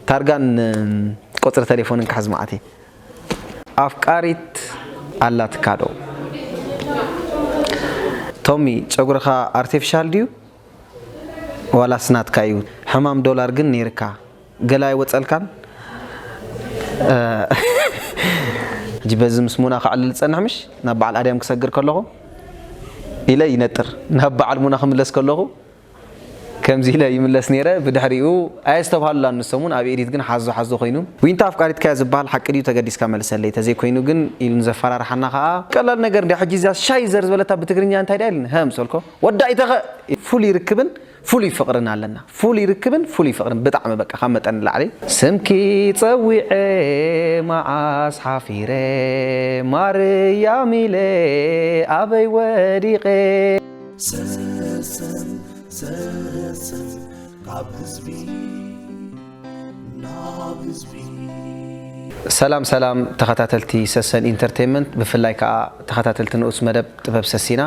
ታርጋን ቁጽሪ ተሌፎንን ክሕዝ መዓት እየ። ኣፍቃሪት ኣላትካ ዶ ቶሚ ጨጉርኻ ኣርቴፍሻል ድዩ ዋላስ ናትካ እዩ ሕማም ዶላር ግን ነይርካ ገለ ኣይወጸልካን ሕጂ በዚ ምስ ሙና ከዕልል ዝጸንሕ ምሽ ናብ በዓል ኣድያም ክሰግር ከለኹ ኢለ ይነጥር ናብ በዓል ሙና ክምለስ ከለኹ ከምዚ ኢለ ይምለስ ኔረ ብድሕሪኡ ኣየስተብሃሉላን ንሶም ውን ኣብ ኤዲት ግን ሓዞ ሓዞ ኮይኑ። ዊንታ ኣፍቃሪትካያ ዝብሃል ሓቂ ድዩ ተገዲስካ መልሰለይ ተዘይ ኮይኑ ግን ኢሉ ንዘፈራርሓና ከኣ ቀላል ነገር እንድያ ሕጂ እዚኣ ሻይ ዘር ዝበለታ ብትግርኛ እንታይ ድያ ኢልኒ ሃም ሰልኮ ወዳኢ ተኸእ ኢሉ። ፍሉይ ርክብን ፍሉይ ፍቅርን ኣለና። ፍሉይ ርክብን ፍሉይ ፍቅርን ብጣዕሚ በቃ ካብ መጠን ንላዕሊ። ስምኪ ጸዊዐ መዓስ ሓፊረ ማርያም ኢለ ኣበይ ወዲቐ። ሰሰን ሰሰን ካብ ህዝቢ ናብ ህዝቢ ሰላም ሰላም ተኸታተልቲ ሰሰን ኢንተርቴንመንት ብፍላይ ከዓ ተኸታተልቲ ንኡስ መደብ ጥበብ ሰሲና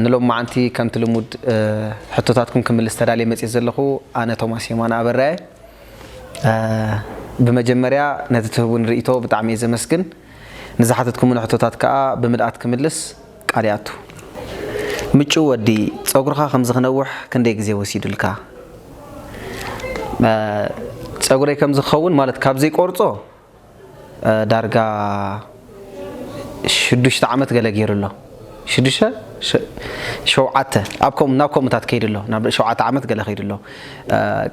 ንሎም መዓንቲ ከምቲ ልሙድ ሕቶታትኩም ክምልስ ተዳልየ መፅት ዘለኹ ኣነ ቶማስ የማን ኣበራየ ብመጀመርያ ነቲ ትህቡን ርእቶ ብጣዕሚ እየ ዘመስግን ንዝሓተትኩምን ሕቶታት ከዓ ብምልኣት ክምልስ ቃል ይኣቱ ምጩው ወዲ ጸጉርካ ከምዚ ክነውሕ ክንደይ ግዜ ወሲዱልካ? ጸጉረይ ከምዚ ክኸውን ማለት ካብ ዘይቆርጾ ዳርጋ ሽዱሽተ ዓመት ገለ ገይሩ ኣሎ ሽዱሽተ ሸውዓተ ኣብ ከምኡ ናብ ከምኡታት ከይዱ ኣሎ ናብ ሸውዓተ ዓመት ገለ ከይዱ ኣሎ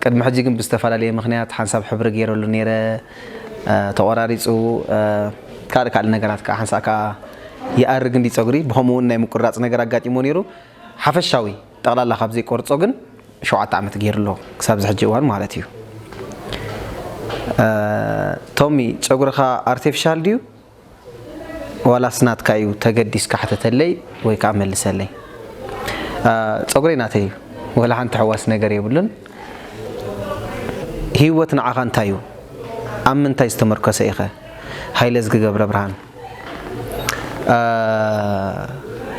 ቅድሚ ሕጂ ግን ብዝተፈላለየ ምክንያት ሓንሳብ ሕብሪ ገይረሉ ነይረ ተቆራሪፁ ካልእ ካልእ ነገራት ከዓ ሓንሳእ ከዓ ይኣርግ እንድዩ ጸጉሪ ብኸምኡውን ናይ ምቁራጽ ነገር ኣጋጢምዎ ነይሩ ሓፈሻዊ ጠቕላላ ካብ ዘይቆርጾ ግን ሸውዓተ ዓመት ገይሩ ኣሎ ክሳብ እዚ ሕጂ እዋን ማለት እዩ ቶሚ ጸጉርኻ ኣርቲፊሻል ድዩ ዋላስ ናትካ እዩ ተገዲስካ ሕተተለይ ወይ ከዓ መልሰለይ ጸጉረይ ናተይ እዩ ወላ ሓንቲ ሕዋስ ነገር የብሉን ህይወት ንዓኻ እንታይ እዩ ኣብ ምንታይ ዝተመርኮሰ ኢኸ ሃይለ ዝግገብረ ብርሃን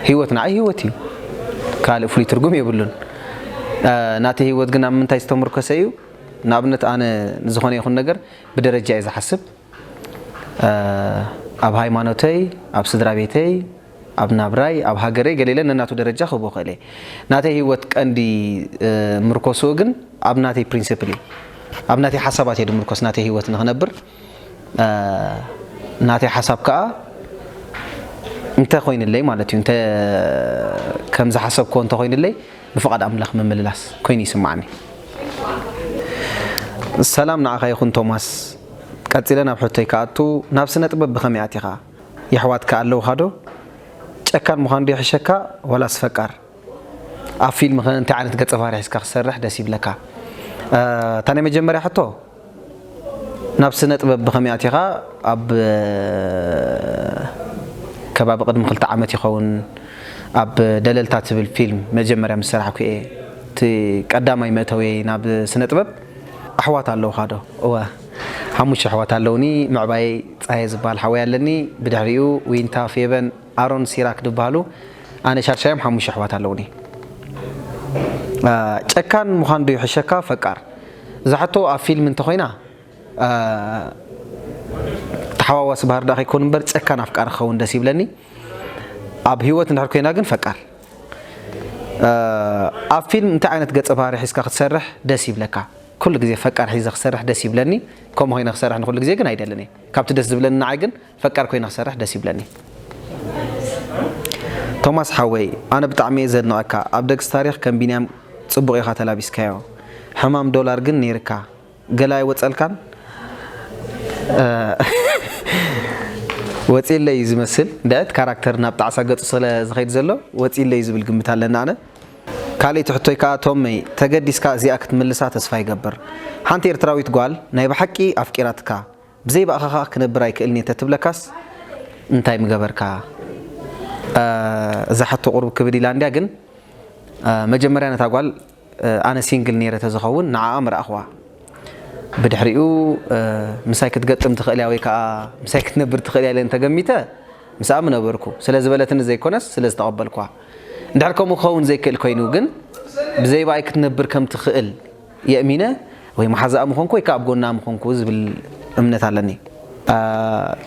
ህይወት ንዓይ ህይወት እዩ ካልእ ፍሉይ ትርጉም የብሉን ናተይ ህይወት ግን ኣብ ምንታይ ዝተምርኮሰ እዩ ንኣብነት ኣነ ንዝኾነ ይኹን ነገር ብደረጃ እየ ዝሓስብ ኣብ ሃይማኖተይ ኣብ ስድራ ቤተይ ኣብ ናብራይ ኣብ ሃገረይ ገሌለ ነናቱ ደረጃ ክህቦ ክእል እየ ናተይ ህይወት ቀንዲ ምርኮስኡ ግን ኣብ ናተይ ፕሪንስፕል እዩ ኣብ ናተይ ሓሳባት እየ ድምርኮስ ናተይ ህይወት ንኽነብር ናተይ ሓሳብ ከኣ እንተ ኮይንለይ ማለት እዩ እንተ ከም ዝሓሰብክዎ እንተ ኮይንለይ ብፍቓድ ኣምላኽ ምምልላስ ኮይኑ ይስምዓኒ። ሰላም ንዓኻ ይኹን ቶማስ ቀጺለ ናብ ሕቶይ ክኣቱ ናብ ስነ ጥበብ ብኸመይ ኣቲኻ? የሕዋትካ ኣለውኻ ዶ? ጨካን ምዃን ዶ ይሕሸካ ዋላስ ፈቃር? ኣብ ፊልም ከ እንታይ ዓይነት ገጸ ባህሪ ሒዝካ ክትሰርሕ ደስ ይብለካ? እታ ናይ መጀመርያ ሕቶ ናብ ስነጥበብ ብኸመይ ኣቲኻ? ኣብ ከባቢ ቅድሚ ክልተ ዓመት ይኸውን ኣብ ደለልታ ትብል ፊልም መጀመርያ ምስ ሰራሕኩ እየ። እቲ ቀዳማይ መእተዊየይ ናብ ስነጥበብ። ኣሕዋት ኣለውኻ ዶ? እወ ሓሙሽተ ኣሕዋት ኣለውኒ፣ ምዕባየይ ጸሃየ ዝብሃል ሓወይ ኣለኒ፣ ብድሕሪኡ ዊንታ፣ ፌበን፣ ኣሮን፣ ሲራክ ድብሃሉ ኣነ ሻድሻዮም ሓሙሽተ ኣሕዋት ኣለውኒ። ጨካን ምዃን ዶ ይሕሸካ ፈቃር? እዛ ሕቶ ኣብ ፊልም እንተኾይና ተሓዋዋሲ ባህሪ ደኣ ከይከውን እምበር ጨካን ኣፍቃሪ ክኸውን ደስ ይብለኒ ኣብ ህይወት እንድሕር ኮይና ግን ፈቃር ኣብ ፊልም እንታይ ዓይነት ገጸ ባህሪ ሒዝካ ክትሰርሕ ደስ ይብለካ? ኩሉ ግዜ ፈቃር ሒዘ ክሰርሕ ደስ ይብለኒ ከምኡ ኮይነ ክሰርሕ ንኩሉ ግዜ ግን ኣይደልን እየ ካብቲ ደስ ዝብለኒ ንዓይ ግን ፈቃር ኮይነ ክሰርሕ ደስ ይብለኒ። ቶማስ ሓወይ ኣነ ብጣዕሚ እየ ዘድንቀካ ኣብ ደግስ ታሪክ ከም ቢንያም ጽቡቅ ኢካ ተላቢስካዮ ሕማም ዶላር ግን ነይርካ ገለ ኣይወጸልካን ወጺእለይ እዩ ዝመስል ድዕት ካራክተር ናብ ጣዕሳ ገጹ ስለ ዝከይድ ዘሎ ወጺእለይ ዝብል ግምት ኣለኒ ኣነ ካልእቲ ሕቶይ ከኣ ቶመይ ተገዲስካ እዚኣ ክትምልሳ ተስፋ ይገብር ሓንቲ ኤርትራዊት ጓል ናይ ብሓቂ ኣፍቂራትካ ብዘይ ብኣኻ ከኣ ክነብር ኣይክእልን እየ እንተ ትብለካስ እንታይ ምገበርካ? እዛ ሕቶ ቁሩብ ክብድ ኢላ እንድያ ግን መጀመርያ ነታ ጓል ኣነ ሲንግል ነይረ ተዝኸውን ንዓኣ ምረኣኽዋ ብድሕሪኡ ምሳይ ክትገጥም ትኽእል እያ ወይ ከኣ ምሳይ ክትነብር ትኽእል እያ ኢለ እንተገሚተ ምስኣ ምነበርኩ ስለ ዝበለትኒ ዘይኮነስ ስለ ዝተቐበልክዋ እንድሕር ከምኡ ክኸውን ዘይክእል ኮይኑ ግን ብዘይ ብኣይ ክትነብር ከም ትኽእል የእሚነ ወይ መሓዛኣ ምኾንኩ ወይ ከኣ ኣብ ጎና ምኾንኩ ዝብል እምነት ኣለኒ።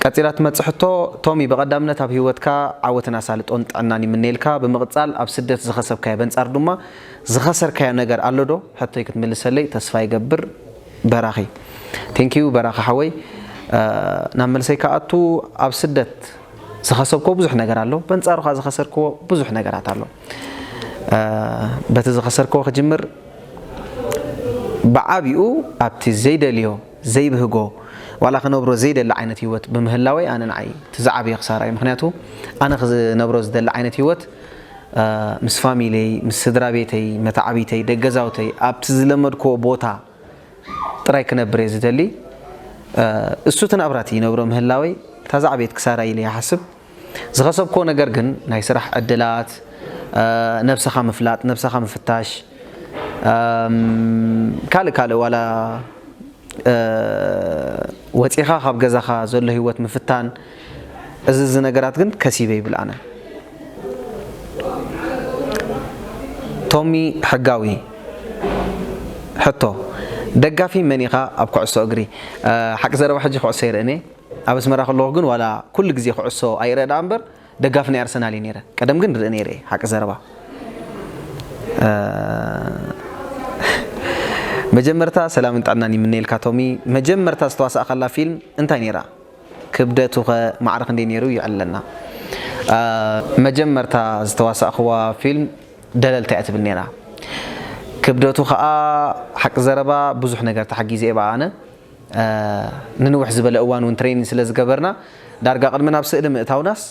ቀጺላ ትመጽእ ሕቶ፣ ቶሚ ብቐዳምነት ኣብ ሂወትካ ዓወትን ኣሳልጦን ጥዕናን ይምነየልካ፣ ብምቕጻል ኣብ ስደት ዝኸሰብካዮ በንጻር ድማ ዝኸሰርካዮ ነገር ኣሎ ዶ? ሕቶይ ክትምልሰለይ ተስፋ ይገብር በራኺ። Thank you በራኺ ሓወይ ናብ መልሰይ ክኣቱ ኣብ ስደት ዝኸሰብክዎ ብዙሕ ነገር ኣሎ በንጻሩ ከኣ ዝኸሰርክዎ ብዙሕ ነገራት ኣሎ በቲ ዝኸሰርክዎ ክጅምር ብዓቢኡ ኣብቲ ዘይደልዮ፣ ዘይብህጎ፣ ዋላ ክነብሮ ዘይደሊ ዓይነት ህይወት ብምህላወይ ኣነ ንዓይ እቲ ዝዓበየ ክሳራ እዩ። ምኽንያቱ ኣነ ክነብሮ ዝደሊ ዓይነት ህይወት ምስ ፋሚልየይ፣ ምስ ስድራቤተይ፣ መታዕቢተይ፣ ደገዛውተይ ኣብቲ ዝለመድክዎ ቦታ ጥራይ ክነብር እየ ዝደሊ። እሱ እቲ ናብራ እቲ ይነብሮ ምህላወይ እታ ዝዓበየት ክሳራ ኢለ ይሓስብ። ዝኸሰብክዎ ነገር ግን ናይ ስራሕ ዕድላት፣ ነብስኻ ምፍላጥ፣ ነብስኻ ምፍታሽ፣ ካልእ ካልእ ዋላ ወጺኻ ካብ ገዛኻ ዘሎ ሂወት ምፍታን እዚ እዚ ነገራት ግን ከሲበ ይብል ኣነ። ቶሚ ሕጋዊ ሕቶ፣ ደጋፊ መን ኢኻ ኣብ ኩዕሶ እግሪ? ሓቂ ዘረባ ሕጂ ኩዕሶ ይርእን እየ። ኣብ ኣስመራ ከለኹ ግን ዋላ ኩሉ ግዜ ኩዕሶ ኣይርእ ደኣ እምበር ደጋፊ ናይ ኣርሰናል እየ ነይረ ቀደም ግን ይርኢ ነይረ እየ ሓቂ ዘረባ መጀመርታ ሰላምን ጥዕናን ይምነየልካ ቶሚ መጀመርታ ዝተዋሳእካላ ፊልም እንታይ ነይራ ክብደቱኸ ማዕረ ክንደይ ነይሩ ይዕለና መጀመርታ ዝተዋሳእክዋ ፊልም ደለልታ እያ ትብል ነይራ ክብደቱ ከዓ ሓቂ ዘረባ ብዙሕ ነገር ተሓጊዘ እየ ብኣ ኣነ ንንውሕ ዝበለ እዋን ውን ትሬኒን ስለ ዝገበርና ዳርጋ ቅድሚ ናብ ስእሊ ምእታውናስ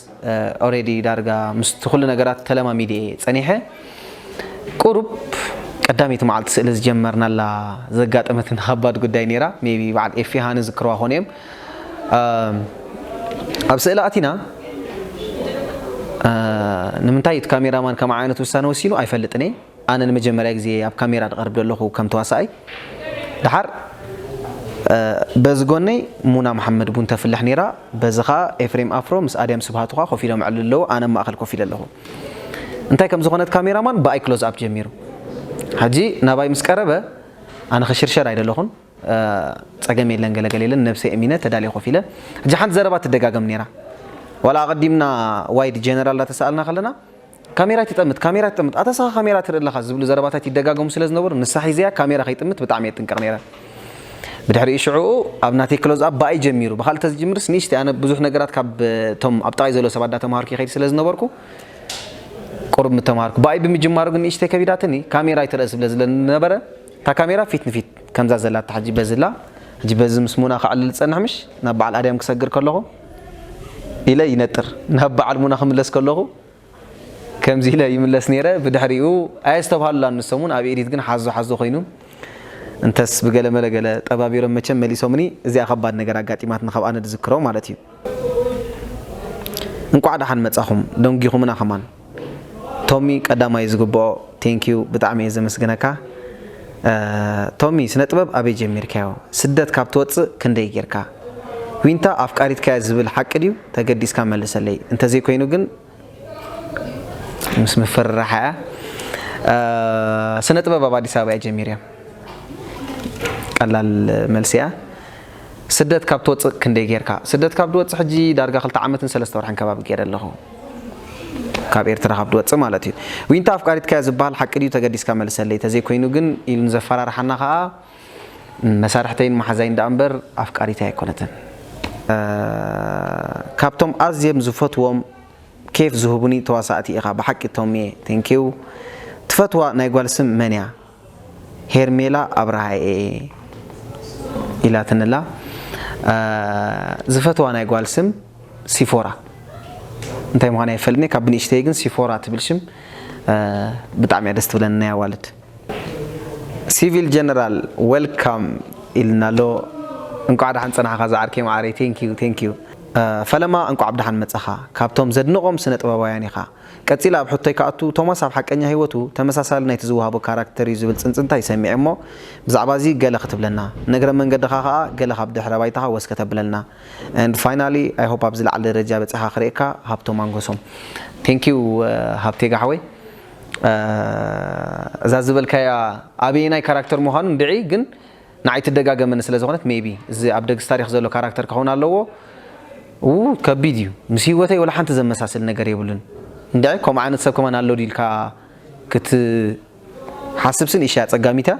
ኦሬዲ ዳርጋ ምስቲ ኩሉ ነገራት ተለማሚደ እየ ጸኒሐ። ቁሩብ ቀዳመይቲ መዓልቲ ስእሊ ዝጀመርናላ ዘጋጠመትና ከባድ ጉዳይ ኔራ ሜይቢ በዓል ኤፊ ሃኒ ዝክርዋ ኮን እዬም። ኣብ ስእሊ ኣቲና ንምንታይ እቲ ካሜራ ማን ከምዓይነት ውሳነ ወሲኑ ኣይፈልጥን እየ። ኣነ ንመጀመርያ ግዜ ኣብ ካሜራ ድቀርብ ደለኩ ከም ተዋሳኣይ ደሓር በዚ ጎነይ ሙና መሓመድ ቡን ተፍልሕ ነይራ በዚ ከኣ ኤፍሬም ኣፍሮ ምስ ኣድያም ስብሃቱ ከኣ ኮፍ ኢሎም የዕልሉ ኣለዉ ኣነ ኣብ ማእከል ኮፍ ኢለ ኣለኩ እንታይ ከም ዝኮነት ካሜራ ማን ብኣይ ክሎዝ ኣፕ ጀሚሩ ሕጂ ናባይ ምስ ቀረበ ኣነ ክሽርሸር ኣይደለኩን ጸገም የለን ገለ ገለ የለን ነብሰይ እሚነ ተዳልየ ኮፍ ኢለ ሕጂ ሓንቲ ዘረባ ትደጋገም ነይራ ዋላ ኣቀዲምና ዋይድ ጀነራል ዳተሳኣልና ከለና ካሜራ ኣይትጠምት፣ ካሜራ ኣይትጠምት፣ ኣታ እስኻ ካሜራ ትርኢ ኣለኻ ዝብሉ ዘረባታት ይደጋገሙ ስለ ዝነበሩ ንሳ ሒዘያ ካሜራ ከይጥምት ብጣዕሚ እየ እጥንቀቕ ነይረ። ብድሕሪኡ ሽዕኡ ኣብ ናተይ ክሎዝ ኣፕ ብኣይ ጀሚሩ፣ ብኻልእ ተዝጅምርስ ንእሽተይ ኣነ ብዙሕ ነገራት ካብ እቶም ኣብ ጥቓይ ዘለዉ ሰባት እንዳተምሃርኩ ይኸይድ ስለ ዝነበርኩ ቁሩብ ምተምሃርኩ። ብኣይ ብምጅማሩ ግን ንእሽተይ ከቢዳትኒ፣ ካሜራ ኣይትርእ ስለ ዝነበረ እታ ካሜራ ፊት ንፊት ከምዛ ዘላታ ሕጂ በዚ እላ፣ ሕጂ በዚ ምስ ሙና ከዕልል ዝጸንሕ ምሽ ናብ በዓል ኣድያም ክሰግር ከለኹ ኢለ ይነጥር፣ ናብ በዓል ሙና ክምለስ ከለኹ፣ ከምዚ ኢለ ይምለስ ነይረ ብድሕሪኡ ኣየስተብሃሉላን ንሶምውን ኣብ ኤዲት ግን ሓዞ ሓዞ ኮይኑ እንተስ ብገለ መለ ገለ ጠባቢሮም መቸም መሊሶምኒ እዚኣ ከባድ ነገር ኣጋጢማትኒ ካብ ኣነ ድዝክሮ ማለት እዩ እንቋዕ ደሓን መጻኹም ደንጒኹምና ከማን ቶሚ ቀዳማይ ዝግብኦ ቴንኪዩ ብጣዕሚ እየ ዘመስግነካ ቶሚ ስነ ጥበብ ኣበይ ጀሚርካዮ ስደት ካብ ትወፅእ ክንደይ ጌርካ ዊንታ ኣፍቃሪትካያ ዝብል ሓቂ ድዩ ተገዲስካ መልሰለይ እንተዘይ ኮይኑ ግን ምስ ምፍርራሓ እያ ስነ ጥበብ ኣብ ኣዲስ ኣበባ እያ ጀሚርያ ቀላል መልሲ እያ ስደት ካብ ትወፅእ ክንደይ ጌርካ ስደት ካብ ድወፅእ ሕጂ ዳርጋ ክልተ ዓመትን ሰለስተ ወርሕን ከባቢ ገይረ ኣለኹ ካብ ኤርትራ ካብ ድወፅእ ማለት እዩ ዊንታ ኣፍቃሪትካያ ዝበሃል ሓቂ ድዩ ተገዲስካ መልሰለይ ተዘይኮይኑ ግን ኢሉ ንዘፈራርሓና ከዓ መሳርሕተይን መሓዛይን ደኣ እምበር ኣፍቃሪተይ ኣይኮነትን። ካብቶም ኣዝዬም ዝፈትዎም ኬፍ ዝህቡኒ ተዋሳእቲ ኢኻ ብሓቂ ቶሚየ thank you ትፈትዋ ናይ ጓል ስም መን እያ ሄርሜላ ኣብርሃ እየ ኢላትኒ ኣላ ዝፈትዋ ናይ ጓል ስም ሲፎራ እንታይ ምዃና ኣይፈልጥን እየ ካብ ብንእሽተይ ግን ሲፎራ ትብል ሽም ብጣዕሚ እያ ደስ ትብለኒ ናይ ኣዋልድ። ሲቪል ጀነራል ዌልካም ኢልና ኣሎ እንቋዕ ዳሓን ጸናሕኻ ዝዓርከይ መዓረይ ቴንኪው ቴንኪው። ፈለማ እንቋዕ ብደሓን መጻኻ ካብቶም ዘድንቖም ስነ ጥበባውያን ኢኻ። ቀጺለ ኣብ ሕቶይ ክኣቱ ቶማስ ኣብ ሓቀኛ ሂወቱ ተመሳሳሊ ናይቲ ዝወሃቦ ካራክተር እዩ ዝብል ጽንጽንታይ ሰሚዐ እሞ ብዛዕባ እዚ ገለ ክትብለና ንእግረ መንገድኻ ከኣ ገለ ካብ ድሕረ ባይታኻ ወስ ከተብለልና and finally I hope ኣብ ዝለዓለ ደረጃ በጺሕካ ክርእየካ ሃብቶም ኣንጎሶም Thank you ሃብቴጋ ሓወይ። እዛ ዝበልካያ ኣበየናይ ካራክተር ምዃኑ እንድዒ ግን ንዓይ ትደጋገመኒ ስለ ዝኾነት ሜይቢ እዚ ኣብ ደግስ ታሪኽ ዘሎ ካራክተር ክኸውን ኣለዎ ኡይ ከቢድ እዩ ምስ ሂወተይ ወላ ሓንቲ ዘመሳስል ነገር የብሉን እንድዒ ከምኡ ዓይነት ሰብ ከማን ኣሎ ድዩ ኢልካ ክትሓስብሲ ንእሽተይ ኣጸጋሚት እያ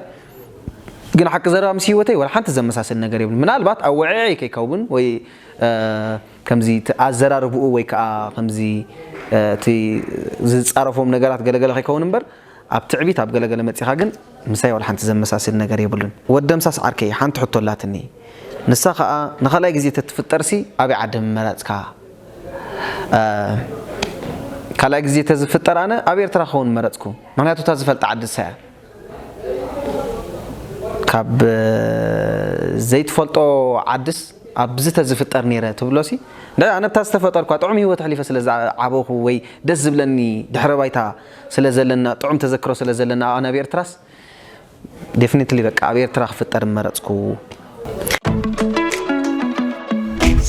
ግን ሓቂ ዘረባ ምስ ሂወተይ ወላ ሓንቲ ዘመሳስል ነገር የብሉን ምናልባት ኣወዐዐይ ከይከውን ወይ ከምዚ እቲ ኣዘራርብኡ ወይ ከኣ ከምዚ እቲ ዝጻረፎም ነገራት ገለ ገለ ከይከውን እምበር ኣብ ትዕቢት ኣብ ገለ ገለ መጺኻ ግን ምሳይ ዋላ ሓንቲ ዘመሳስል ነገር የብሉን። ወድ ደምሳስ ዓርከይ ሓንቲ ሕቶ ኣላትኒ ንሳ ከኣ ንኻልኣይ ግዜ ተትፍጠርሲ ኣበይ ዓዲ ምመረጽካ? ካልኣይ ግዜ ተዝፍጠር ኣነ ኣብ ኤርትራ ክኸውን ምመረጽኩ ምኽንያቱ እታ ዝፈልጣ ዓዲ ንሳ እያ። ካብ ዘይትፈልጦ ዓድስ ኣብዚ ተዝፍጠር ነይረ ትብሎሲ ኣነ ብታ ዝተፈጠርኳ ጥዑም ሂወት ኣሕሊፈ ስለ ዝዓበኹ ወይ ደስ ዝብለኒ ድሕረ ባይታ ስለ ዘለና ጥዑም ተዘክሮ ስለ ዘለና ኣነ ኣብ ኤርትራስ ዴፍኒትሊ በቃ ኣብ ኤርትራ ክፍጠር ምመረጽኩ።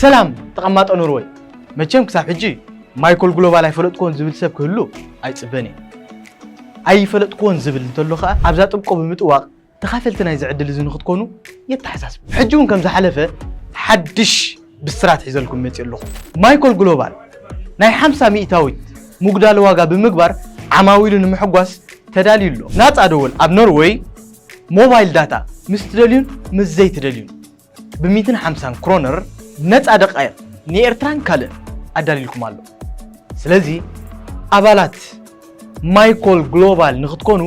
ሰላም ተቐማጦ ኖርወይ! መቸም ክሳብ ሕጂ ማይኮል ግሎባል ኣይፈለጥክዎን ዝብል ሰብ ክህሉ ኣይጽበን እየ። ኣይፈለጥክዎን ዝብል እንተሎ ከኣ ኣብዛ ጥብቆ ብምጥዋቕ ተኻፈልቲ ናይዚ ዕድል እዚ ንኽትኮኑ የተሓሳስብ። ሕጂ እውን ከም ዝሓለፈ ሓድሽ ብስራት ሒዘልኩም መጺኡ ኣለኹ። ማይኮል ግሎባል ናይ ሓምሳ ሚእታዊት ምጉዳል ዋጋ ብምግባር ዓማዊሉ ንምሕጓስ ተዳልዩ ኣሎ። ናጻ ደወል ኣብ ኖርወይ ሞባይል ዳታ ምስ ትደልዩን ምስ ዘይትደልዩን። ብሚትን ሓምሳን ክሮነር ነፃ ደቃይቕ ንኤርትራን ካልእን ኣዳልዩልኩም ኣሎ። ስለዚ ኣባላት ማይኮል ግሎባል ንክትኮኑ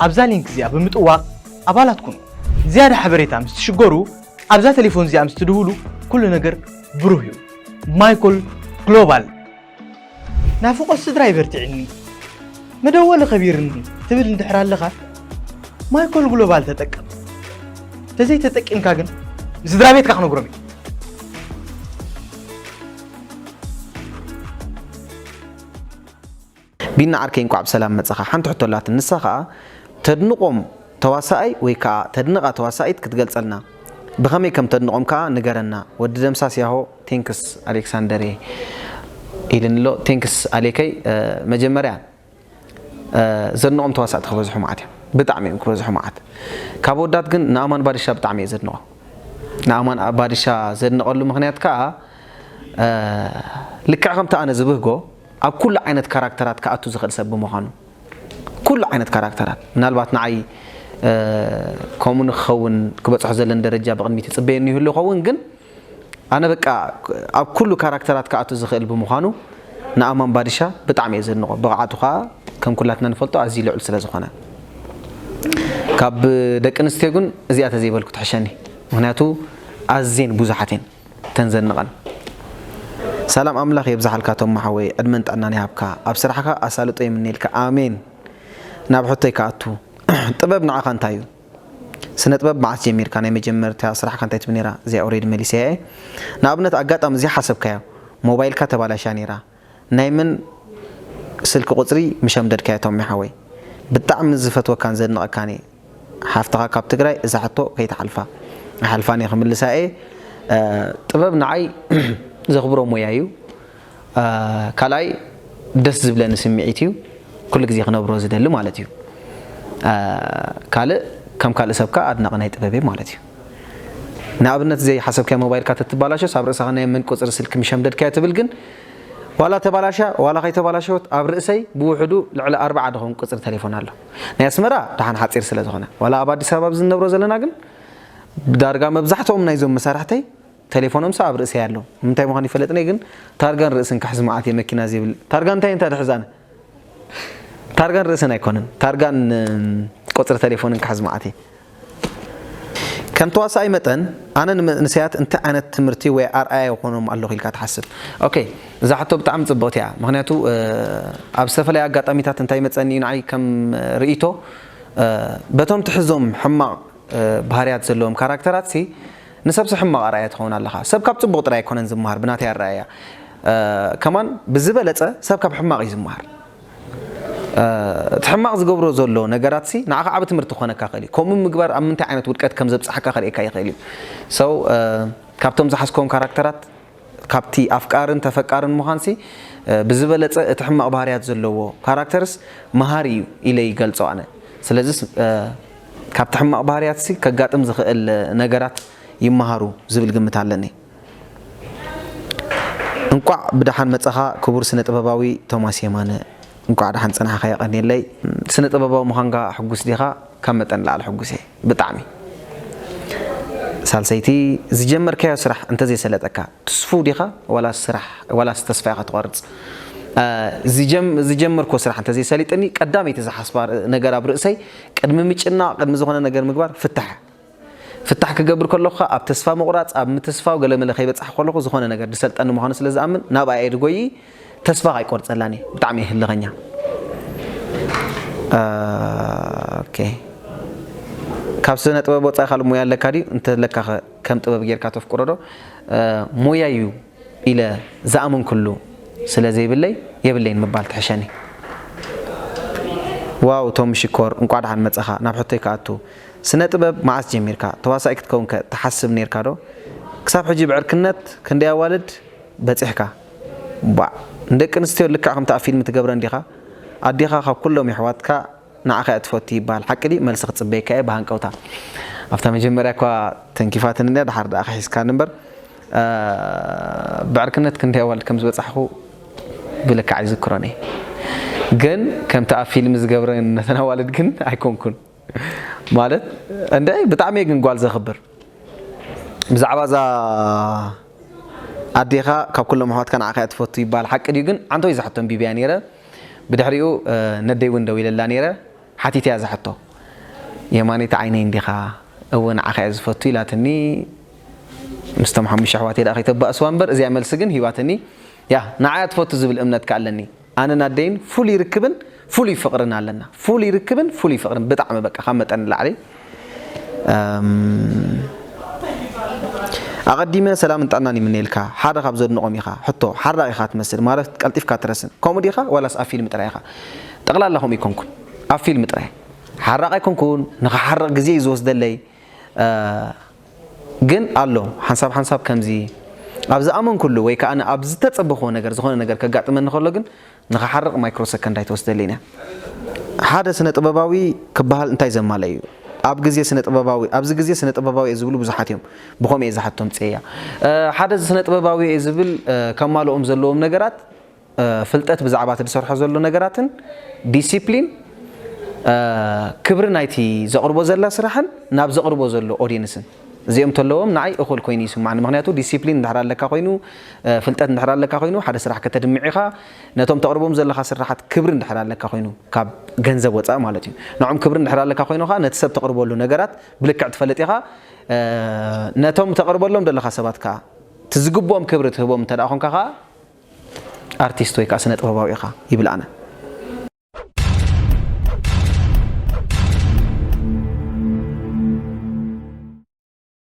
ኣብዛ ሊንክ እዚኣ ብምጥዋቕ ኣባላት ኩኑ። ንዝያዳ ሓበሬታ ምስ ትሽገሩ ኣብዛ ቴሌፎን እዚኣ ምስ ትድውሉ ኩሉ ነገር ብሩህ እዩ። ማይኮል ግሎባል ናፍቆት ስድራ ይበርቲዕኒ መደወሊ ከቢርኒ ትብል እንድሕር ኣለኻ ማይኮል ግሎባል ተጠቀም ተዘይ ተጠቂምካ ግን ንስድራ ቤትካ ክነግሮም እዩ ቢና ዓርከይ እንኳዕ ብሰላም መፀኻ ሓንቲ ሕቶ ኣላትን ንሳ ከዓ ተድንቆም ተዋሳኣይ ወይ ከዓ ተድንቃ ተዋሳኢት ክትገልፀልና ብኸመይ ከም ተድንቆም ከዓ ንገረና ወዲ ደምሳስ ያሆ Thanks ኣሌክሳንደርየ ኢልኒ ኣሎ Thanks ኣሌከይ መጀመርያ ዘድንቆም ተዋሳእቲ ክበዝሑ መዓት እዮም ብጣዕሚ እዮም ክበዝሑ መዓት ካብ ኣወዳት ግን ንኣማን ባድሻ ብጣዕሚ እየ ዘድንቆ ንኣማን ባድሻ ዘድንቀሉ ምክንያት ከዓ ልክዕ ከምቲ ኣነ ዝብህጎ ኣብ ኩሉ ዓይነት ካራክተራት ክኣቱ ዝክእል ሰብ ብምኳኑ ኩሉ ዓይነት ካራክተራት ምናልባት ንዓይ ከምኡ ንክኸውን ክበፅሖ ዘለን ደረጃ ብቅድሚት ይፅበየኒ ይህሉ ይኸውን ግን ኣነ በቃ ኣብ ኩሉ ካራክተራት ክኣቱ ዝኽእል ብምዃኑ ንኣማን ባድሻ ብጣዕሚ እየ ዘድንቖ ብቕዓቱ ከኣ ከም ኩላትና ንፈልጦ ኣዝዩ ልዑል ስለ ዝኾነ ካብ ደቂ ኣንስትዮ ግን እዚኣ ተዘይበልኩ ትሕሸኒ ምኽንያቱ ኣዝየን ብዙሓት እየን እተን ዘድንቐን ሰላም ኣምላኽ የብዝሓልካ ቶማ ሓወይ ዕድመን ጥዕናን ይሃብካ ኣብ ስራሕኻ ኣሳልጦ ይምነየልካ ኣሜን ናብ ሕቶይ ክኣቱ ጥበብ ንዓኻ እንታይ እዩ ስነጥበብ መዓስ ጀሚርካ ናይ መጀመርታ ስራሕካ እንታይ ትብል ነይራ እዚኣ ኦሬዲ መሊሰያ እየ ንኣብነት ኣጋጣሚ ዘይሓሰብካዮ ሞባይልካ ተባላሽያ ነይራ ናይ መን ስልኪ ቁፅሪ ምሸምደድካዮ ቶሚ ሓወይ ብጣዕሚ ዝፈትወካን ዘድንቀካን እየ ሓፍትካ ካብ ትግራይ እዛ ሕቶ ከይትሓልፋ ኣይሓልፋን እየ ክምልሳ እየ ጥበብ ንዓይ ዘክብሮ ሞያ እዩ ካልኣይ ደስ ዝብለኒ ስምዒት እዩ ኩሉ ግዜ ክነብሮ ዝደሊ ማለት እዩ ካልእ ከም ካልእ ሰብ ከኣ ኣድናቂ ናይ ጥበብ እየ ማለት እዩ ንኣብነት ዘይ ሓሰብካዮ ሞባይልካ ተትባላሸስ ኣብ ርእሳኻ ናይ መን ቁጽሪ ስልኪ ምሸምደድካዮ ትብል ግን ዋላ ተባላሻ ዋላ ከይተባላሸወት ኣብ ርእሰይ ብውሕዱ ልዕሊ ኣርብዓ ድኾን ቁጽሪ ተሌፎን ኣሎ ናይ ኣስመራ ደሓን ሓጺር ስለ ዝኾነ ዋላ ኣብ ኣዲስ ኣበባ ኣብዚ እንነብሮ ዘለና ግን ዳርጋ መብዛሕትኦም ናይዞም መሳርሕተይ ተሌፎኖምሰ ኣብ ርእሰይ ኣሎ ምንታይ ምዃኑ ይፈለጥንየ ግን ታርጋን ርእስን ክሕዝ መዓት እየ መኪና ዘይብለይ ታርጋ እንታይ እንታ ድሕዝ ኣነ ታርጋን ርእስን ኣይኮነን ታርጋን ቁፅሪ ተሌፎንን ክሕዝ መዓት እየ ከም ተዋሳኣይ መጠን ኣነ ንመንእሰያት እንታይ ዓይነት ትምህርቲ ወይ ኣርኣያ ይኾኖም ኣለኹ ኢልካ ትሓስብ ኦኬ እዛ ሕቶ ብጣዕሚ ፅብቕቲ እያ ምክንያቱ ኣብ ዝተፈላለዩ ኣጋጣሚታት እንታይ መፀኒ እዩ ንዓይ ከም ርእይቶ በቶም ትሕዞም ሕማቕ ባህርያት ዘለዎም ካራክተራት ሲ ንሰብሰ ሕማቕ ኣርኣያ ትኸውን ኣለኻ። ሰብ ካብ ጽቡቕ ጥራይ ኣይኮነን ዝመሃር ብናተይ ኣረኣእያ። ከማን ብዝበለጸ ሰብ ካብ ሕማቕ እዩ ዝመሃር። እቲ ሕማቕ ዝገብሮ ዘሎ ነገራትሲ ንዓኻ ዓቢ ትምህርቲ ክኾነካ ይኽእል እዩ። ከምኡ ምግባር ኣብ ምንታይ ዓይነት ውድቀት ከም ዘብጽሓካ ከርእየካ ይኽእል እዩ። So ካብቶም ዝሓዝክዎም ካራክተራት ካብቲ ኣፍቃርን ተፈቃርን ምዃንሲ ብዝበለጸ እቲ ሕማቕ ባህርያት ዘለዎ ካራክተርስ መሃሪ እዩ ኢለ ይገልጾ ኣነ። ስለዚ ካብቲ ሕማቕ ባህርያትሲ ከጋጥም ዝኽእል ነገራት ይመሃሩ ዝብል ግምት ኣለኒ። እንቋዕ ብደሓን መጻኻ ክቡር ስነ ጥበባዊ ቶማስ የማነ። እንቋዕ ደሓን ጸናሕኻ የቐንየለይ። ስነ ጥበባዊ ምዃንካ ሕጉስ ዲኻ? ካብ መጠን ንላዕሊ ሕጉስ እየ። ብጣዕሚ። ሳልሰይቲ ዝጀመርካዮ ስራሕ እንተዘይሰለጠካ ትስፉው ዲኻ ዋላስ ስራሕ ዋላስ ተስፋ ኢኻ ትቖርጽ? ዝጀም ዝጀመርክዎ ስራሕ እንተዘይሰሊጥኒ ቀዳመይቲ ዝሓስባ ነገር ኣብ ርእሰይ ቅድሚ ምጭናቕ ቅድሚ ዝኾነ ነገር ምግባር ፍታሕ ፍታሕ ክገብር ከለኹ ከኣ ኣብ ተስፋ ምቑራጽ ኣብ ምትስፋው ገለመለ ከይበጻሕኩ ከለኹ ዝኾነ ነገር ዝሰልጠኒ ምዃኑ ስለዝኣምን ናብኣ እየ ድጎይይ ተስፋ ኣይቆርጸላን እየ ብጣዕሚ እየ ህልኸኛ ኦኬ ካብ ስነ ጥበብ ወጻኢ ካልእ ሞያ ኣለካ ድዩ እንተለካ ከ ከም ጥበብ ጌርካ ተፍቅሮ ዶ ሞያ እዩ ኢለ ዝኣመንኩሉ ስለ ዘይብለይ የብለይን ምባል ትሕሸኒ ዋው ቶም ሽኮር እንቋዕ ደሓን መጸኻ ናብ ሕቶይ ክኣቱ ስነ ጥበብ መዓስ ጀሚርካ ተዋሳኢ ክትከውን ከ ትሓስብ ኔርካ ዶ ክሳብ ሕጂ ብዕርክነት ክንደይ ኣዋልድ በጺሕካ ባዕ ንደቂ ኣንስትዮ ልክዕ ከምቲ ኣብ ፊልም ትገብረን ዲኻ ኣዴኻ ካብ ኩሎም የሕዋትካ ንዓኻ እያ ትፈቱ ይበሃል ሓቂ ድዩ መልሲ ክጽበየካ እየ ብሃንቀውታ ኣብታ መጀመርያ እኳ ተንኪፋትኒ እንድያ ድሓር ድኣ ክሒስካኒ እምበር ብዕርክነት ክንደይ ኣዋልድ ከም ዝበጻሕኩ ብልክዕ ኣይዝክሮን እየ ግን ከምቲ ኣብ ፊልም ዝገብረን ነተን ኣዋልድ ግን ኣይኮንኩን ማለት እንደ ብጣዕሚ ግን ጓል ዘኽብር ብዛዕባ እዛ ኣዴኻ ካብ ኩሎም ኣሕዋትካ ንዓኻ እያ ትፈቱ ይበሃል ሓቂ ድዩ ግን ዓንተው ዝሓቶም ቢብያ ነይረ ብድሕሪኡ ነደይ እውን ደዊለላ ነይረ ሓቲተያ ዝሓቶ የማነይቲ ዓይነይ እንዲኻ እወ ንዓኻ እያ ዝፈቱ ኢላትኒ ምስቶም ሓሙሽተ ኣሕዋተይ ደኣ ከይተባእስዋ እምበር እዚኣ መልሲ ግን ሂባትኒ ያ ንዓያ ትፈቱ ዝብል እምነት ከ ኣለኒ ኣነን ኣደይን ፍሉይ ርክብን ፍሉይ ፍቅርን ኣለና ፍሉይ ርክብን ፍሉይ ፍቅርን ብጣዕሚ በቃ ካብ መጠን ንላዕሊ ኣቐዲመ ሰላምን ጥዕናን ይምነየልካ ሓደ ካብ ዘድንቖም ኢኻ ሕቶ ሓራቕ ኢኻ ትመስል ማለት ቀልጢፍካ ትረስን ከምኡ ዲኻ ዋላስ ኣብ ፊልም ጥራይ ኢኻ ጠቕላላ ከምኡ ይኮንኩን ኣብ ፊልም ጥራይ ሓራቕ ኣይኮንኩን ንኽሓርቕ ግዜ እዩ ዝወስደለይ ግን ኣሎ ሓንሳብ ሓንሳብ ከምዚ ኣብ ዝኣመንኩሉ ወይ ከኣ ኣብ ዝተጸበኽዎ ነገር ዝኾነ ነገር ከጋጥመኒ ከሎ ግን ንኽሓርቕ ማይክሮ ሰከንድ ኣይትወስደልይን እያ። ሓደ ስነ ጥበባዊ ክበሃል እንታይ ዘማልእ እዩ? ኣብ ግዜ ስነ ጥበባዊ ኣብዚ ግዜ ስነ ጥበባዊ እየ ዝብሉ ብዙሓት እዮም። ብኸምኡ እየ ዝሓትቶ ኣምጺኤያ። ሓደ ስነ ጥበባዊ እየ ዝብል ከማልኦም ዘለዎም ነገራት ፍልጠት ብዛዕባ እቲ ዝሰርሖ ዘሎ ነገራትን ዲሲፕሊን ክብሪ ናይቲ ዘቕርቦ ዘላ ስራሕን ናብ ዘቕርቦ ዘሎ ኦዲንስን እዚኦም ተለዎም ንዓይ እኹል ኮይኑ ይስማዕኒ ምክንያቱ ዲሲፕሊን እንድሕር ኣለካ ኮይኑ ፍልጠት እንድሕር ኣለካ ኮይኑ ሓደ ስራሕ ከተድምዕ ኢኻ ነቶም ተቕርቦም ዘለኻ ስራሓት ክብሪ እንድሕር ኣለካ ኮይኑ ካብ ገንዘብ ወፃእ ማለት እዩ ንዖም ክብሪ እንድሕር ኣለካ ኮይኑ ከዓ ነቲ ሰብ ተቕርበሉ ነገራት ብልክዕ ትፈልጥ ኢኻ ነቶም ተቕርበሎም ዘለኻ ሰባት ከዓ እቲ ዝግብኦም ክብሪ ትህቦም እንተ ኮንካ ከዓ ኣርቲስት ወይ ከኣ ስነጥበባዊ ኢኻ ይብል ኣነ።